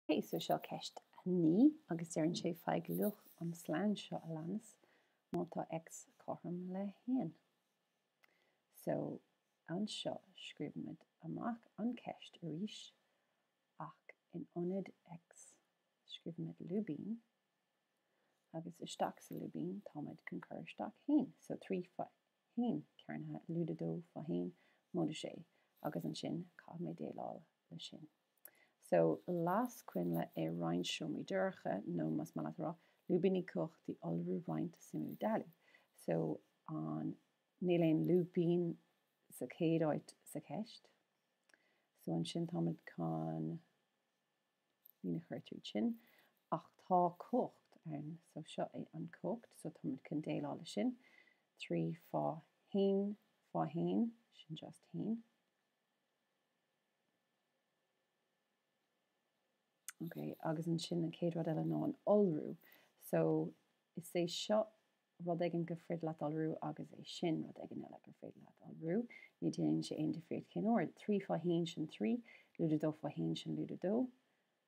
Ok so seo ceist a naoi agus deireann sé faigh luach an slonn seo a leanas má tá X cothrom le haon. So anseo scríobhaimid amach an ceist arís ach in ionad X scríobhaimid lúibín agus isteach sa lúibín táimid chun cur isteach haon. So trí fá haon cearnaithe lúide dó fá haon móide sé agus ansin caithfimid déileáil le sin. So las coinnle i roinnt seomraí dorcha nó más maith leat a rá, lúibíní cumhachtaí iolrú roinnt suimiú dealú. So an níl aon lúibín sa chéad áit sa cheist. So ansin táimid chun líne a chur tríd sin. Ach tá cumhacht ann. So seo é an cumhacht. So táimid chun déileáil le sin. 3 fá 1 fá 1, sin just 1. Ok, agus ansin an chéad rud eile ná an iolrú. So, is é seo rud éigin gur féidir leat iolrú agus é sin rud éigin eile gur féidir leat iolrú. Ní déanann sé aon difríocht cén ord. 3 fá 1 sin 3, lúide 2 fá 1 sin lúide 2.